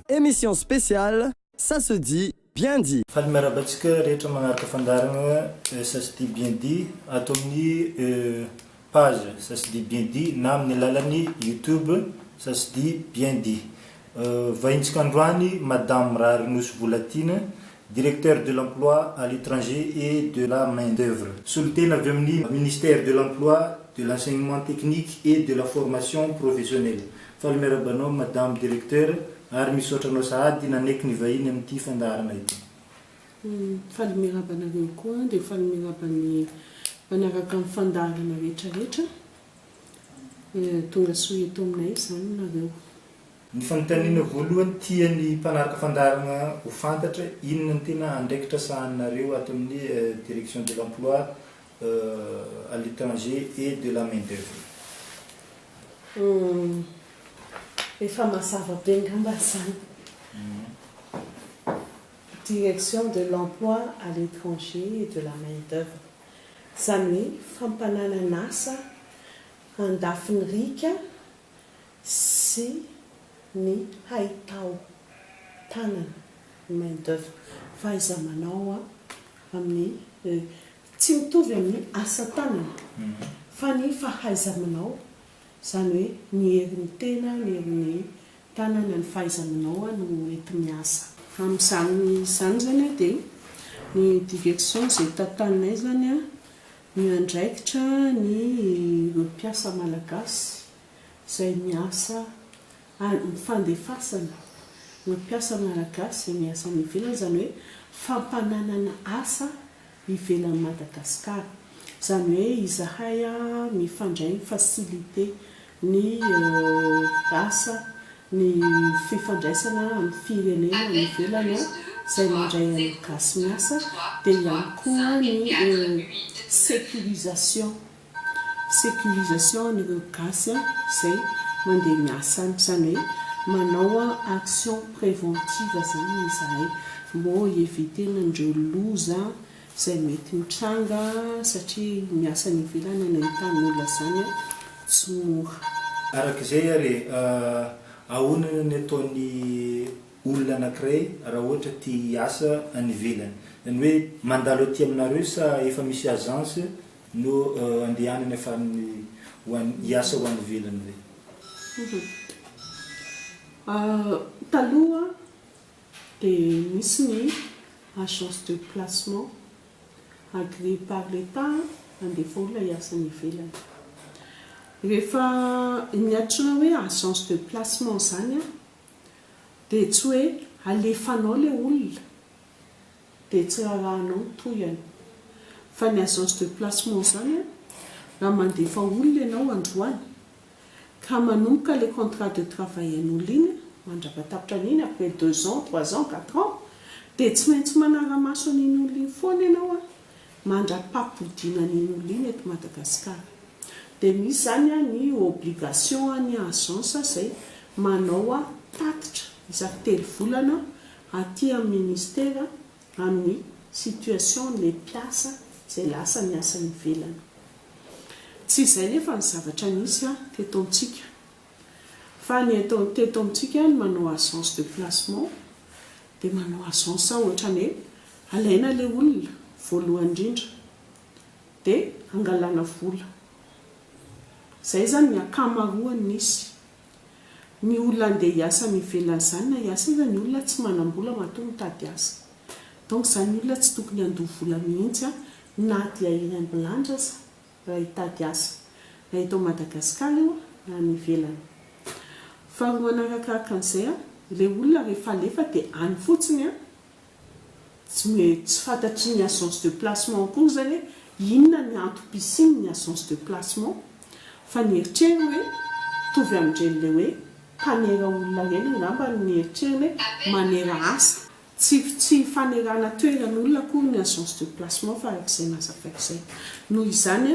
Emission spéciale ça se dit bien dit. Faly miarahaba antsika rehetra magnaraka fandaharana ça se dit bien dit ato amin'ny page ça se dit bien dit na amin'ny alalan'ny youtube ça se dit bien dit. Vahintsika androany Madame Rarinoso Volatiana. Directeur de l'emploi à l'étranger et de la main d'oeuvre. Solontena avy amin'ny Ministère de l'emploi, de l'enseignement technique et de la formation professionnelle. Faly miarahaba anao Madame Directeur ary misaotra anao sahady nanaiky ny vahiny amin'ity fandaharana ity. Faly miarahaba anareo koa dia faly miarahaba ny mpanaraka ny fandaharana rehetra rehetra. Tongasoa eto aminay izany nareo. Ny fanontaniana voalohany tian'ny mpanaraka fandaharana ho fantatra, inona ny tena andraikitra sahaninareo ato amin'ny Direction de l'Emploi à l'Etranger et de la Main d'Oeuvre? Humm, efa mazava be ngamba izany. Direction de l'Emploi à l'Etranger et de la Main d'Oeuvre, izany hoe fampananan'asa an-dafin'ny riaka sy ny haitao tanana, ny main d'oeuvre, fahaiza-manao amin'ny tsy mitovy amin'ny asa tanana fa ny fahaiza-manao, izany hoe ny herin'ny tena, ny herin'ny tanana, ny fahaiza-manao no enti-miasa. Amin'izany izany izany dia ny Diversion izay tantaninay izany miandraikitra ny mpiasa malagasy izay miasa amin'ny fandefasana ireo mpiasa malagasy izay miasa any ivelany, izany hoe fampananana asa ivelan'i Madagasikara. Izany hoe izahay mifandray mi-faciliter ny asa, ny fifandraisana amin'ny firenena any ivelany izay mandray an'ny gasy miasa, dia ihany koa ny sécurisation sécurisation an'ireo gasy izay mandeha miasa any, izany hoe manao action préventive izany izahay mbô hi-éviter-na an'ireo loza izay mety mitranga satria miasa any ivelany any an-tany olona izany tsy mora. Araka izay ary e, ahoana ny ataon'ny olona anankiray raha ohatra te hiasa any ivelany? Izany hoe mandalo aty aminareo sa efa misy agence? No andehanany afarany ho any hiasa ho any ivelany ve? Taloha dia nisy ny agence de placement agreé par l'Etat handefa olona hiasa any ivelany. Rehefa ny antsoina hoe agence de placement izany dia tsy hoe alefanao ilay olona. dia tsy rarahanao ny tohiny. Fa ny agence de placement izany raha mandefa olona ianao androany ka manomboka ilay contrat de travail an'olona iny mandravatapotra an'iny après deux ans, trois ans, quatre ans dia tsy maintsy manara-maso an'iny olona iny foana ianao mandrapapodiana an'iny olona iny eto Madagasikara. Dia misy izany ny obligation an'ny agence izay manao tatitra isaky telo volana Aty amin'ny ministera amin'ny situation ny mpiasa izay lasa niasa ivelany. Tsy izay nefa ny zavatra nisy teto amintsika fa ny eto teto amintsika ny manao agence de placement dia manao agence ohatrany hoe alaina ilay olona voalohany indrindra dia angalana vola. Izay izany ny ankamaroany nisy. Ny olona andeha hiasa any ivelany izany na hiasa aza ny olona tsy manam-bola matoa mitady asa. Donc izany ny olona tsy tokony handoa vola mihitsy na dia eny ambilanja aza raha hitady asa. Na eto Madagascar io na any ivelany. Faharoa manarakaraka an'izay, ilay olona rehefa alefa dia any fotsiny Tsy me tsy fantatry ny agence de placement akory zany hoe inona ny antom-pisiany ny agence de placement fa ny eritreriny hoe mitovy amin-dreny le hoe mpanera olona reny angamba ny eritreriny hoe manera asa. Tsy tsy fanerana toeran'olona akory ny agence de placement fa arak'izay nazavaiko zay. Noho izany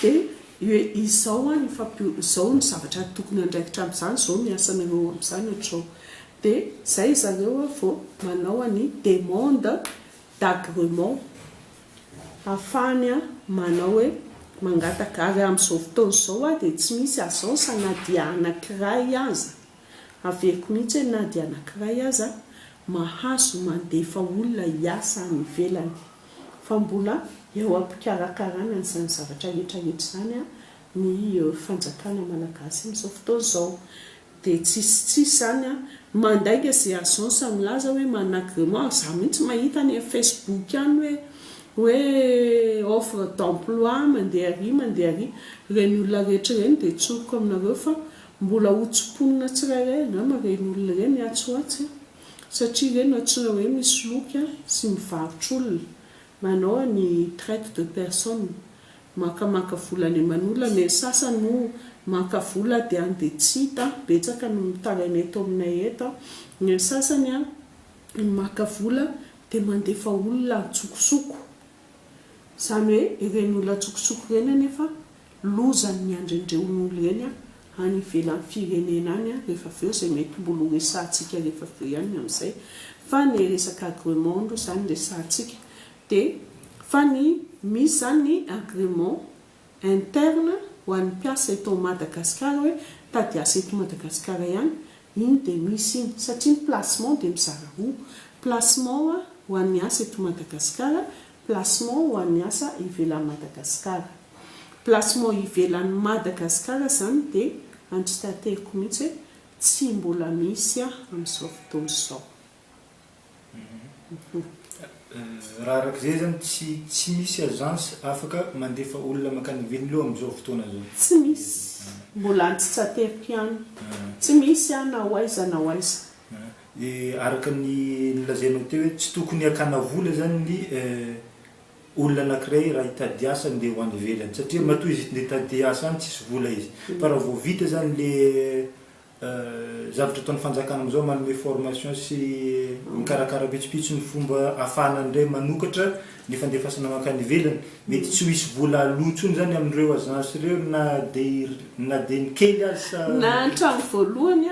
Dia hoe izao an, izao ny zavatra tokony andraikitra amin'izany, izao ny asanareo eo amin'izany, ohatr'izao. Dia izay ry zareo an vao manao an'i demande d'agrement ahafahany manao hoe mangataka. Ary amin'izao fotoana izao an dia tsy misy agence na dia anankiray aza, averiko mihitsy hoe na dia anankiray aza, mahazo mandefa olona hiasa any ivelany. fa mbola eo am-pikarakarana an'izany zavatra hetrahetra izany ny fanjakana malagasy amin'izao fotoana izao. Dia tsisy tsisy izany, mandainga izay agence milaza hoe manana agrément, izaho mihitsy mahita any amin'ny facebook any hoe hoe offre d'emploi mandeha ary mandeha ary, ireny olona rehetra ireny dia tsoriko aminareo fa mbola hotsimponina tsirairay angamba ireny olona ireny atsy ho atsy. satria ve no antsona hoe misoloky sy mivarotra olona, manao any traite de personne, mankamaka vola any aman'olona, ny an'ny sasany moa maka vola dia any dia tsy hita, betsaka no mitangana eto aminay eto an, ny an'ny sasany an maka vola dia mandefa olona antsokosoko. Izany hoe ireny olona an-tsokosoko ireny anefa lozan'ny miandrendeon'olo ireny any ivelan'ny firenena any rehefa avy eo izay mety mbola ho resahantsika rehefa avy eo ihany ny amin'izay fa ny resaka agrément aloha izany resahantsika dia fa ny misy izany ny agrément interne ho an'ny mpiasa eto ao Madagascar hoe mitady asa eto Madagascar ihany, iny dia misy iny, satria ny placement dia mizara roa, placement ho an'ny asa eto Madagascar, placement ho an'ny asa ivelan'i Madagascar. Placement ivelan'i Madagascar izany dia andry tanteriko mihitsy hoe tsy mbola misy amin'izao fotoana izao. Raha araka izay izany tsy tsy misy agence afaka mandefa olona mankany ivelny loha amin'izao fotoana izao? Tsy misy. Mbola antsitsateriko ihany. Tsy misy an, na ho aiza na ho aiza. Dia araka ny nolazainao teo hoe tsy tokony hakana vola izany ny olona anankiray raha hitady asa handeha ho any ivelany satria matoa izy eto ndeha hitady asa any tsisy vola izy. Fa raha vao vita izany ilay Zavatra ataon'ny fanjakana amin'izao manome formation sy mikarakara pitsopitso ny fomba ahafahana ny iray manokatra ny fandefasana mankany ivelany. Mety tsy ho hisy vola aloa intsony izany amin'ireo agence ireo na dia na dia ny kely aza sa? Na hatramin'ny voalohany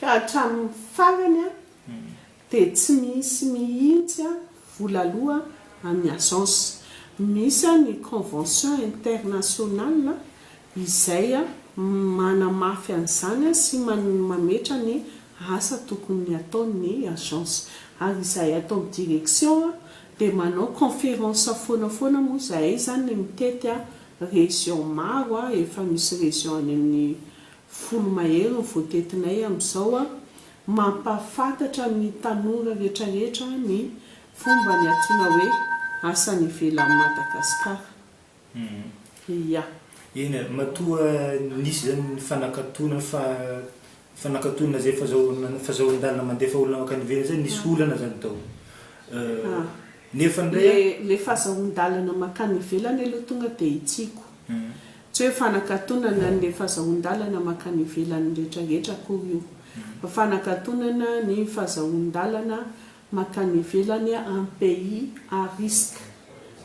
ka hatramin'ny farany. Dia tsy misy mihitsy vola aloa an'ny agence. Misy ny convention internationale izay manamafy an'izany sy mametra ny asa tokony ataon'ny agence. Ary izahay ato amin'ny direction dia manao conference foana foana moa izahay izany mitety region maro efa misy region any amin'ny Folo mahery ny voatetinay amin'izao a! Mampahafantatra ny tanora rehetrarehetra ny fomba ny antsoina hoe asa any ivelan'i Madagasikara. Ia. Eny a! Matoa nisy izany ny fanakatonana fa fanakatonana izay fazahoan fazahoan-dalana mandefa olona mankany ivelany izay nisy olana izany tao. Nefa ndray a. Le fazahoan-dalana makany ivelany aloha tonga dia hitsiko. Tsy hoe fanakatonana an le fazahoan-dalana makany ivelany rehetra rehetra akory io. Fa fanakatonana ny fazahoan-dalana makany ivelany an pays à risque.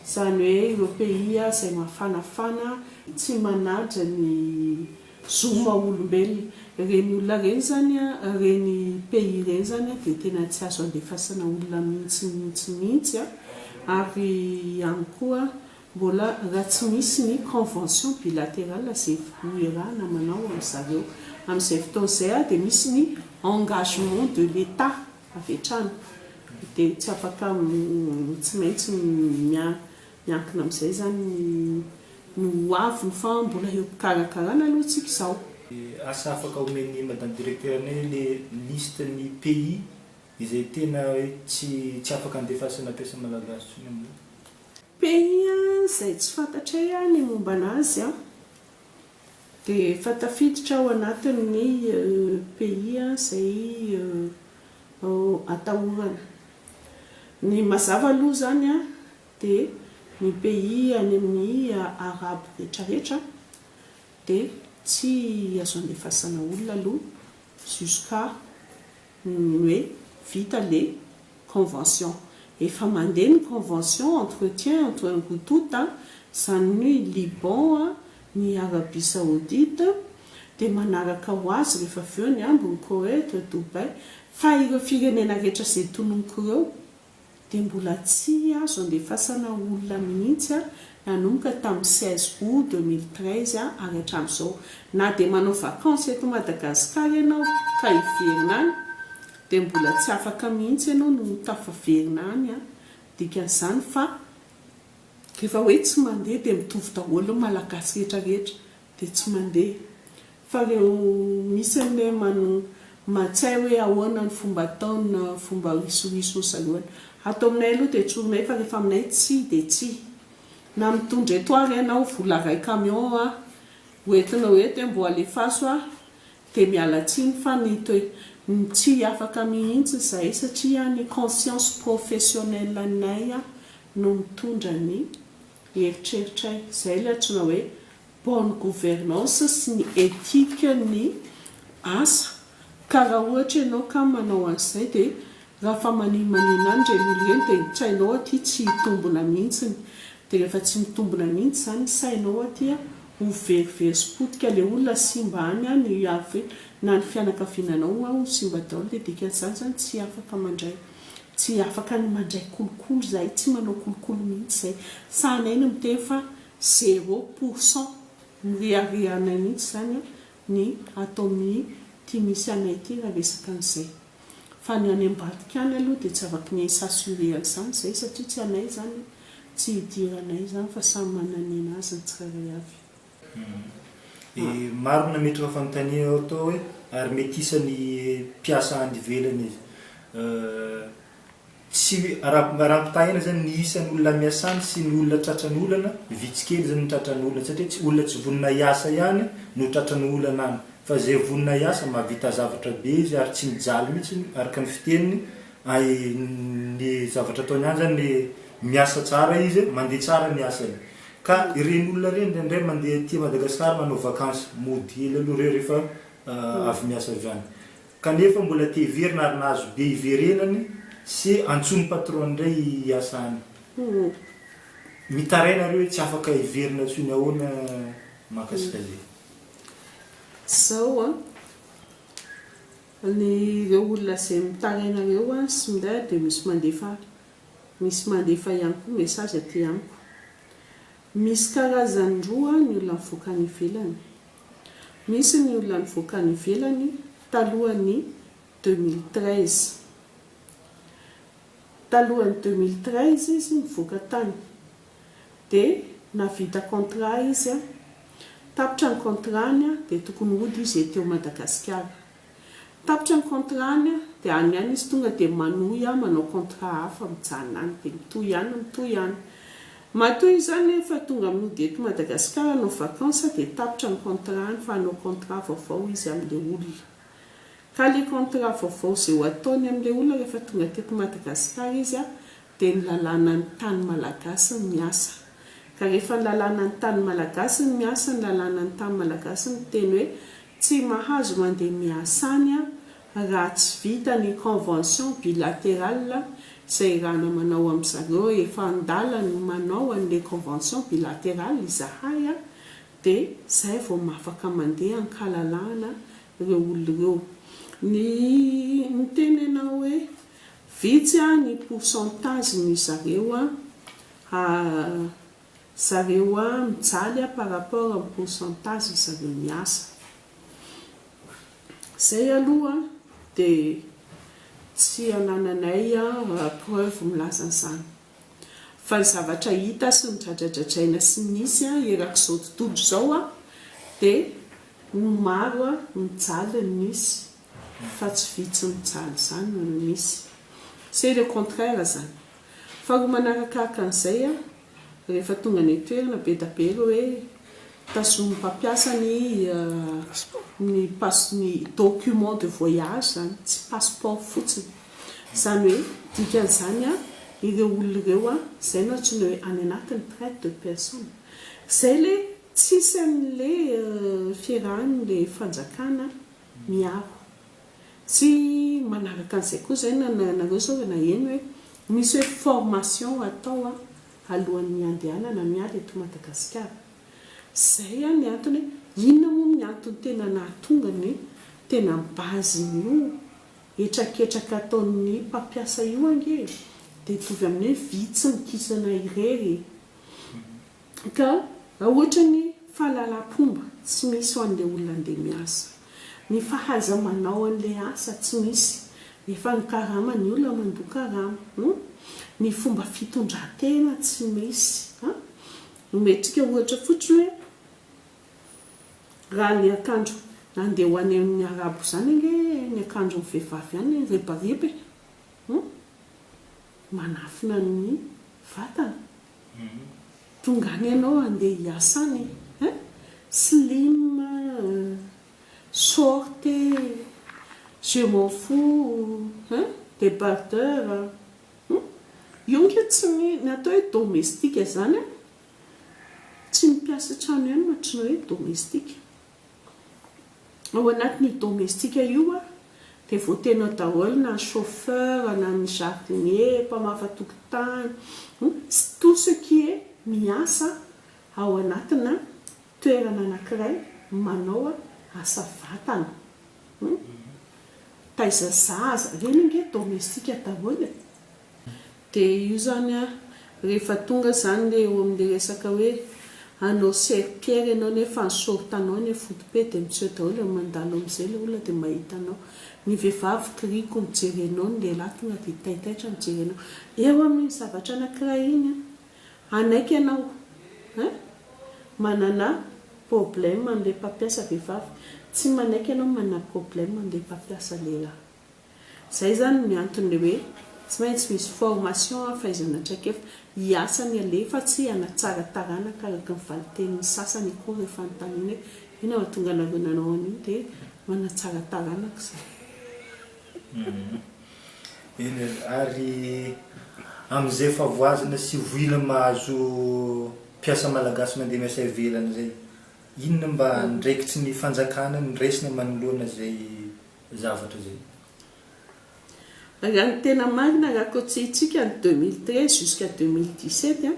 Izany hoe ireo pays izay mafanafana tsy manaja ny. zo maha olombelona. Ireny olona ireny zany a, ireny pays ireny zany a dia tena tsy azo andefasana olona mihintsy mihintsy mihintsy a, ary ihany koa mbola raha tsy misy ny convention bilaterale izay iarahana manao amy zareo. Amy izay fotoana izay ary dia misy ny engagement de l'Etat avy hatrany, dia tsy afaka tsy maintsy Miankina amin'izay izany ny ho aviny fa mbola eo am-pikarakarana aloha tsika izao. Asa afaka omen'ny madame directeur anay le liste ny pays izay tena hoe tsy tsy afaka andefasana mpiasa malagasy tsony amin'io. Pays a, izay tsy fantatray a ny momba anazy a, de efa tafiditra ao anatin'ny pays izay atahorana. Ny mazava aloha izany a, dia ny pays any amin'ny arabo rehetra rehetra dia tsy azo andefasana olona aloha jusqu'à ny hoe vita le convention efa mandeha ny convention entretien entre ny Houtout zany ny hoe Liban a ny Arabie Saoudite dia manaraka ho azy rehefa avy eo ny ambiny Koweït, Dubaï fa ireo firenena rehetra izay tononiko ireo. dia mbola tsy azo andefasana olona mihitsy nanomboka tamin'ny seize aout deux mille treize ary hatramin'izao. Na dia manao vacances eto Madagasikara ianao ka hiverina any dia mbola tsy afaka mihitsy ianao no ho tafaverina any an! Dikan'izany fa rehefa hoe tsy mandeha dia mitovy daholo ny Malagasy rehetra rehetra dia tsy mandeha. Fa reo misy anie mano matsay hoe ahoana ny fomba atao na fomba risoriso ny saloany. Ato aminay aloha dia tsorinay fa rehefa aminay tsia dia tsia. Na mitondra eto ary ianao vola ray camion a ho entinao eto hoe mbo alefaso a dia miala tsiny fa ny toe ny tsy afaka mihintsy zahay satria ny conscience professionnelle anay no mitondra ny Eritreritray, izay ilay antsoina hoe bonne gouvernance sy ny ethique ny asa, ka raha ohatra ianao ka manao an'izay dia raha fa manimanina any ireny olona ireny dia ny tsainao aty tsy hitombona mihitsiny, dia rehefa tsy mitombona mihitsy izany ny sainao aty an, ho very very sy potika ilay olona, simba any an, ny havy na ny fianakaviananao an ho simba daholo, dia dikan'izany izany tsy afaka mandray Tsy afaka ny mandray kolikoly izahay tsy manao kolikoly mihitsy izay sahanay ny miteny fa zero pour cent mireharehanay mihitsy izany ny ato amin'ny ity misy anay ity raha resaka an'izay fa ny any ambadika any aloha dia tsy afaka ny s'assurer an'izany izahay satria tsy anay izany tsy hidiranay izany fa samy mananina azy ny tsirairay avy Maro ny nametraka fanontaniana eo toa hoe ary mety isan'ny mpiasa any ivelany izy. Tsy hoe, raha raha ampitahaina izany ny isan'olona miasa any sy ny olona tratran'olana, vitsy kely izany ny tratran'olana satria tsy olona tsy vonona hiasa ihany no tratran'olana any fa izay vonona hiasa mahavita zavatra be izy ary tsy mijaly mihitsy araka ny fiteniny ary ny zavatra ataony any izany miasa tsara izy, mandeha tsara ny asany. Ka ireny olona ireny indraindray mandeha aty Madagascar manao vakansy, mody hely aloha ireo rehefa avy miasa avy any. Kanefa mbola te hiverina ary nahazo be hiverenany sy antsoin'ny patron indray hiasa any. Mitaraina ireo hoe tsy afaka hiverina intsony ahoana mahakasika izay. Zao an, ny ireo olona izay mitaraina ireo an sy minday dia misy mandefa Misy mandefa ihany koa message aty amiko. Misy karazany roa ny olona mivoaka any ivelany. Misy ny olona nivoaka any ivelany talohan'ny deux mille treize. Talohan'ny deux mille treize izy nivoaka tany. Dia nahavita contrat izy, tapitra ny contrat-ny dia tokony hody izy ety ao Madagasikara. Tapitra ny contrat-ny dia any ihany izy tonga dia manohy aho manao contrat hafa mijanona any dia mitohy any mitohy any. Matoa izany rehefa tonga mody eto Madagasikara hanao vacances dia tapitra ny contrat-ny fa hanao contrat vaovao izy amin'ilay olona. Ka ilay contrat vaovao izay ho ataony amin'ilay olona rehefa tonga teto Madagasikara izy dia ny lalànan'ny tany malagasy ny miasa. Ka rehefa ny lalànan'ny tany malagasy ny miasa, ny lalànan'ny tany malagasy miteny hoe tsy mahazo mandeha miasa any aho raha tsy vita ny convention bilaterale izay irana manao amin'i zareo, efa an-dalany ny manao an'ilay convention bilaterale izahay dia izay vao mafaka mandeha an-kalalahana ireo olona ireo. Ny miteny ianao hoe. Vitsy ny pourcentage ny zareo a ha zareo a mijaly a par rapport am pourcentage zareo miasa zay aloha de tsy anananay a preuve milaza an'zany fa ny zavatra hita sy nodradradradraina sy nisy a erak'izao tontolo izao a de ny maro a mijaly ny nisy. fa tsy vitsy mijaly izany no no misy. C'est le contraire zany. Faharoa manarakaka an'izay an, rehefa tonga any an-toerana be da be ireo hoe tazonin'ny mpampiasa ny ny pass ny document de voyage zany, tsy passeport fotsiny. Zany hoe dikan'izany an, ireo olona ireo an, izay no antsoina hoe any anatiny traite de personne. Izay le tsisy an'le fiarahan'ny le fanjakana. ny ahy. Tsy manaraka an'izay koa izay na ianareo sao dia naheno hoe misy hoe formation atao alohan'ny handehanana miady eto Madagasikara. Izay ny antony hoe inona moa ny antony tena nahatonga ny tena base-n'io hetraketraka ataon'ny mpampiasa io ange dia hitovy amin'ny hoe vitsy mikisana irery. Ka ohatran'ny fahalalam-pomba tsy misy ho an'ilay olona handeha miasa. Ny fahaiza-manao an'ilay asa tsy misy, nefa ny karama ny olona mandoa karama. Ny fomba fitondran-tena tsy misy. Omentsika ohatra fotsiny hoe raha ny akanjo handeha ho any amin'ny Arabo izany ange ny akanjon'ny vehivavy any, ribariba e! Manafina ny vatana. Tonga any ianao handeha hiasa any eh. Slim eh, short eh, je m'en fous eh, débardeur eh. Io ange tsy ny, ny atao hoe domestika izany an, tsy ny mpiasa an-trano ihany no ohatran'ny hoe domestika. Ao anatin' io domestika io dia voateny ao daholo na ny chauffeur, na ny jardinier, mpamafa tokotany, sy tout ce qui est miasa ao anatina toerana anankiray manao asa vatana. Taiza zaza? Ireny ange domestika daholo e! Dia io zany an, rehefa tonga zany le eo amle resaka hoe hanao serpillère ianao nefa ny short anao anie foty be dia miseho daholo e, mandalo amzay le olona dia mahita anao, ny vehivavy kiriko mijery anao, ny lehilahy tonga dia taitaitra mijery anao, eo amin'iny zavatra anakiray iny an, hanaiky ianao an, manana problème amle mpampiasa vehivavy, tsy manaiky ianao manana problème amle mpampiasa lehilahy. Zay zany ny antony le hoe tsy maintsy misy formation an fahaizana traikefa hiasa ny aleha fa tsy hanatsara taranaka araka ny valitenin'ny sasany akory rehefa anontaniana hoe inona no mahatonga anareo nanao an'io de manatsara taranaka zany. Eny ary, ary amin'izay efa voazana sy voina mahazo mpiasa malagasy mandeha miasa ivelany zay, inona mba andraikitry ny fanjakana no raisina manoloana izay? zavatra izay. Raha ny tena marina raha kotsihintsika ny deux mille treize jusqu'à deux mille dix sept an,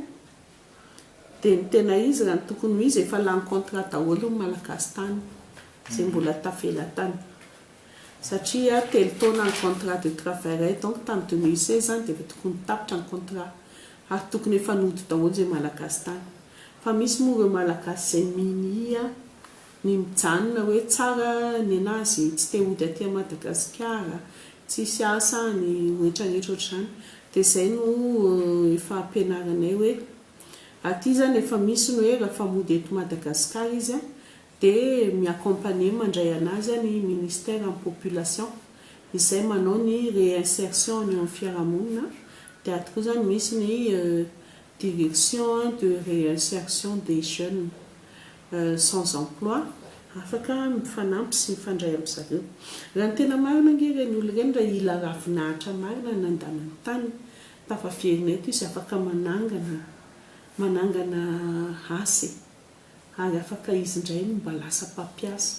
dia ny tena izy raha ny tokony ho izy efa lany contrat daholo ny malagasy tany izay mbola tavela tany satria telo taona ny contrat de travairay donc tany deux mille seize zany dia efa tokony tapitra ny contrat ary tokony efa nody daholo izay malagasy tany fa misy moa ireo malagasy izay minia Ny mijanona hoe tsara nenazy tsy te hody aty Madagasikara, tsisy asa any retraretra ohatr'izany dia izay no efa ampianarinay hoe aty zany efa misy ny hoe rafa mody eto Madagasikara izy dia mi accompagner mandray anazy ny ministère ny population izay manao ny réinsertion any amin'ny fiarahamonina dia ato koa zany misy ny Direction de Réinsertion des Jeunes sans Emploi afaka mifanampy sy mifandray amin-dry zareo. Raha ny tena marina ange ireny olona ireny raha i La Ravinahitra marina no nandàna ny tany tafaverina eto izy afaka manangana manangana asa e! ary afaka izy indray no mba lasa mpampiasa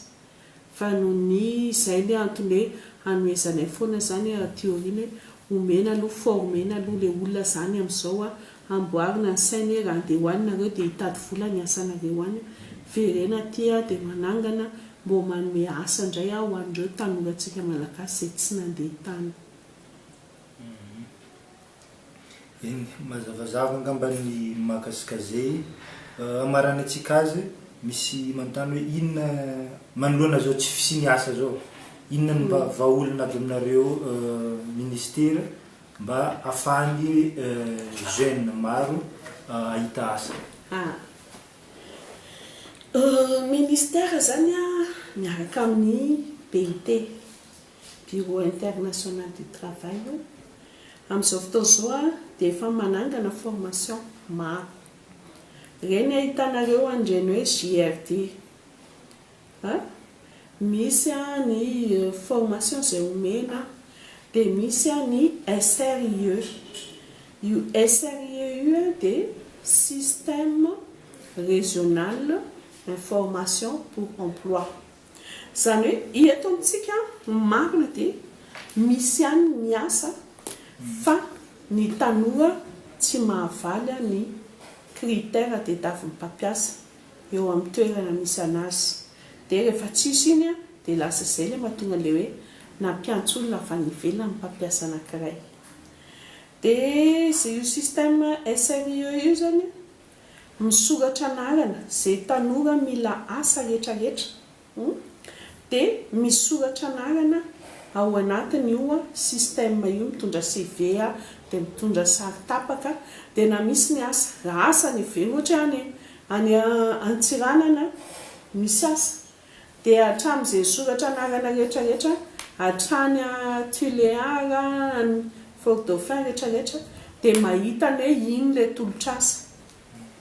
fa noho ny izay ny antony hoe hanohezanay foana izany aty aoriana hoe omena aloha former-na aloha ilay olona izany amin'izao a, amboarina ny sainy hoe raha andeha ho any nareo dia hitady vola ny asanareo any a, verena aty a dia manangana mbo manome asa indray aho ho an'ireo tanorantsika malagasy izay tsy nandeha tany. Eny, mazavazava angamba ny maka sy kazey. Hamaranantsika azy, misy manontany hoe inona manoloana izao tsy fisian'ny asa izao, inona no mba vahaolana avy aminareo ministera mba afahan'ny jeunes maro hahita asa? Ah, ny ministera izany miaraka amin'ny BIT, Bureau international du travail io, amin'izao fotoana izao dia efa manangana formation maro. Ireny ahitanareo an'ireny hoe JRD a, misy ny formation izay omena, dia misy ny SRIE. Io SRIE io dia système régional information pour emploi. Izany hoe eto amintsika ny marina dia misy ihany ny asa fa ny tanora tsy mahavaly ny critère de davin'ny mpampiasa eo amin'ny toerana misy anazy dia rehefa tsisy iny dia lasa izay ilay mahatonga ilay hoe nampiantso olona avy any ivelany ny mpampiasa anankiray dia io système SRIE io izany Misoratra anarana zay tanora mila asa rehetra rehetra hum de misoratra anarana ao anatiny io système io mitondra CV a de mitondra sary tapaka de na misy ny asa raha asa any ivelany ohatra hoe any any Antsiranana misy asa Dia hatramin'izay soratra anarana rehetra rehetra hatrany an Tuléar an Fort Dauphin rehetra rehetra dia mahita ny hoe iny ilay tolotr'asa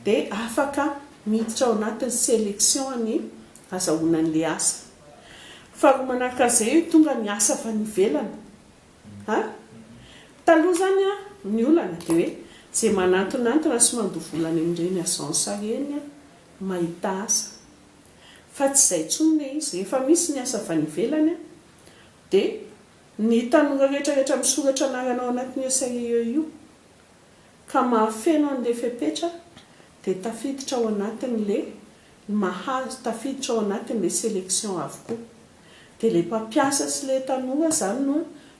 dia afaka miditra ao anatin'ny selection an'ny azahoana an'ilay asa. Faharoa manaraka an'izay io tonga ny asa avy any ivelany an taloha izany an ny olana dia hoe izay manantonantona sy mandoa vola any amin'ireny agence ireny an mahita asa. fa tsy izay intsony le izy rehefa misy ny asa avy any ivelany an! dia ny tanora rehetra rehetra misoratra anarana ao anatin'io CIE io ka mahafeno an'le fepetra dia tafiditra ao anatin'le mahazo tafiditra ao anatin'le selection avokoa dia le mpampiasa sy le tanora zany no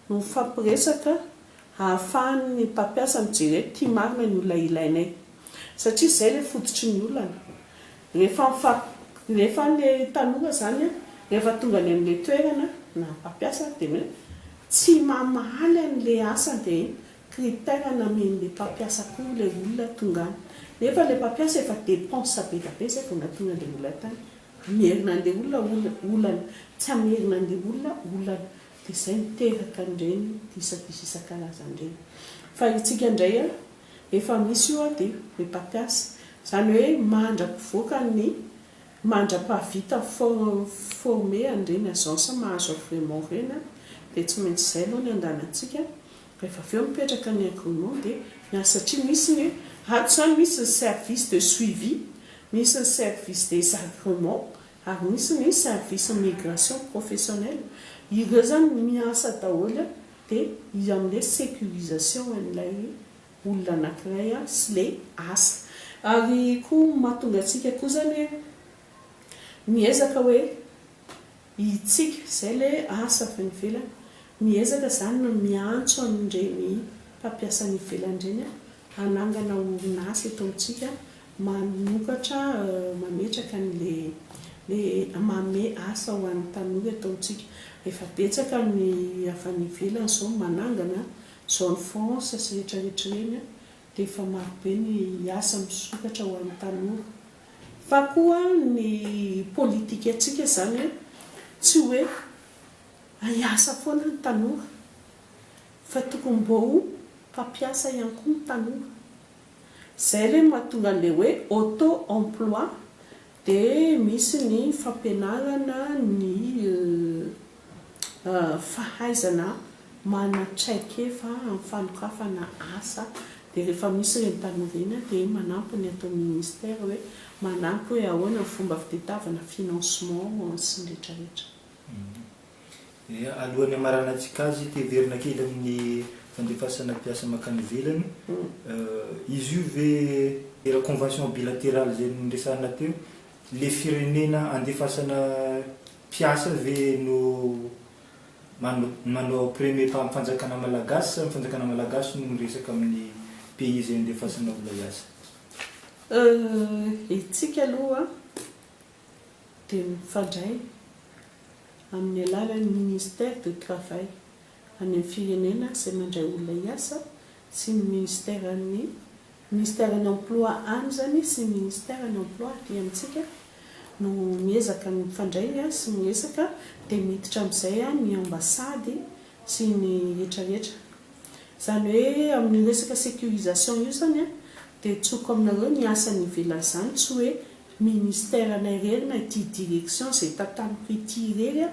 no mifampiresaka hahafahan'ny mpampiasa mijery hoe ty marina ny olona ilainay satria zay le fototry ny olana Rehefa mifampy, rehefa ilay taloha izany an, rehefa tonga any amin'ilay toerana na mpampiasa dia hoe tsy mamaly an'ilay asa dia iny critère namen'ilay mpampiasa koa ilay olona tonga any. Nefa ilay mpampiasa efa dépense be dia be izay vao nahatonga an'ilay olona tany. Hamerina an'ilay olona olona, olana, tsy hamerina an'ilay olona olana. Dia izay miteraka an'ireny disadisa isan-karazany ireny. Fa isika indray an, Efa misy io ady ry mpampiasa. Izany hoe mandra-pivoaka ny, mandra-pahavita former an'ireny agence mahazo agrément ireny an, dia tsy maintsy izay aloha ny andanantsika, rehefa avy eo mipetraka ny agrément dia ny azy satria misy ny, ato izany misy ny service de suivi, misy ny service des agréments ary misy ny service migration professionnelle, ireo izany miasa daholo Dia iza amin'ilay sécurisation an'ilay olona anankiray sy ilay asa. Ary koa ny mahatonga antsika koa izany hoe miezaka hoe hitsika, izay ilay asa avy any ivelany, miezaka izany ny miantso an'ireny mpampiasa any ivelany ireny hanangana orinasa eto amintsika Mamokatra, mametraka ny le le manome asa ho an'ny tanora eto amintsika. Efa betsaka ny avy any ivelany izao manangana zone France sy rehetra rehetra ireny dia efa marobe ny asa misokatra ho an'ny tanora. Fa koa ny politikantsika izany tsy hoe ahiasa foana ny tanora fa tokony mba ho mpampiasa ihany koa ny tanora. Zay re no mahatonga an'ilay hoe auto emploi dia misy ny fampianarana ny fahaizana manatraikefa amin'ny fanokafana asa dia rehefa misy ireny tanora ireny dia manampy ny ato amin'ny ministère hoe manampy hoe ahoana ny fomba fitadiavana financement sy ny retraretra. Alohan'ny hamaranantsika azy, te hiverina kely amin'ny fandefasana mpiasa mankany ivelany. Izy io ve le convention bilatérale izay noresahina teo, le firenena andefasana mpiasa ve no manao premier pas, fanjakana malagasy sa ny fanjakana malagasy no miresaka amin'ny pays izay andefasana olona hiasa? Hetsika aloha. dia mifandray amin'ny alalan'ny Ministère du Travail any amin'ny firenena izay mandray olona hiasa sy ny Ministeran'ny Ministeran'ny Emploi any izany sy ny Ministeran'ny Emploi aty amintsika no miezaka mifandray sy miresaka dia miditra amin'izay ny Ambassade sy ny rehetra rehetra. Izany hoe amin'io resaka sécurisation io izany dia tsoiko aminareo ny asa any ivelany izany tsy hoe Ministère nay rery na ity direction izay tantaniko ity irery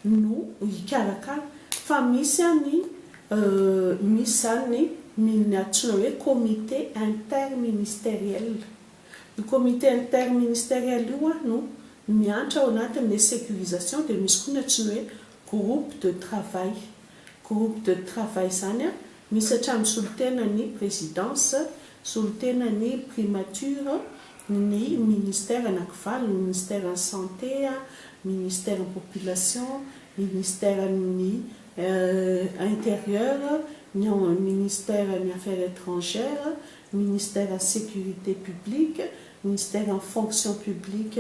no hikarakara fa misy an ny misy izany ny min ny antsoina hoe comité interministériel. Io comité interministériel io an no miantra ao anatin ilay sécurisation dia misy koa ny antsoina hoe groupe de travail. Groupe de travail izany an misy hatramin'ny solontenan'ny présidence, solontenan'ny primature, ny Ministère anankivalony, Ministeran'ny Santé, Ministeran'ny Population, Ministeran'ny Intérieur, ny ao Ministeran'ny Affaires Étrangères, Ministeran'ny Sécurité Publique, Ministeran'ny Fonction Publique,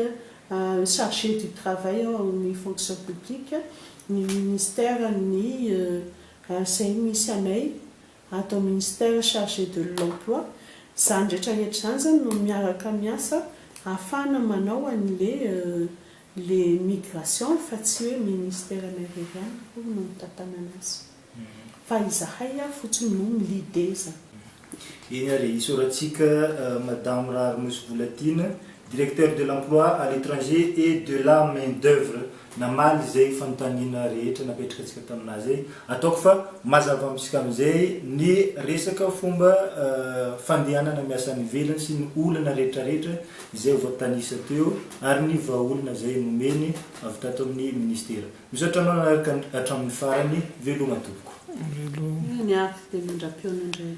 Chargé du Travail ao amin'ny Fonction Publique, ny Ministeran'ny, izay misy anay, ato amin'ny Ministère chargé de l'Emploi, izany rehetra rehetra izany zany no miaraka miasa ahafahana manao an'le le migration fa tsy hoe Ministère anay irery ihany akory no mitantanana azy fa izahay ihany fotsiny no mi-leader izany. Eny ary, isaorantsika Madame Raharinosivolatiana Directeur de l'emploi à l'étranger et de la main d'oeuvre namaly izay fanontaniana rehetra napetrakantsika taminà izay. Ataoko fa mazava amintsika amin'izay ny resaka fomba fandehanana miasa any ivelany sy ny olana rehetrarehetra izay voatanisa teo ary ny vahaolana izay nomeny avy tato amin'ny Ministera. Misaotra anao nanaraka hatramin'ny farany. Veloma tompoko. Veloma. Ny ahy dia mandra-pihaona indray.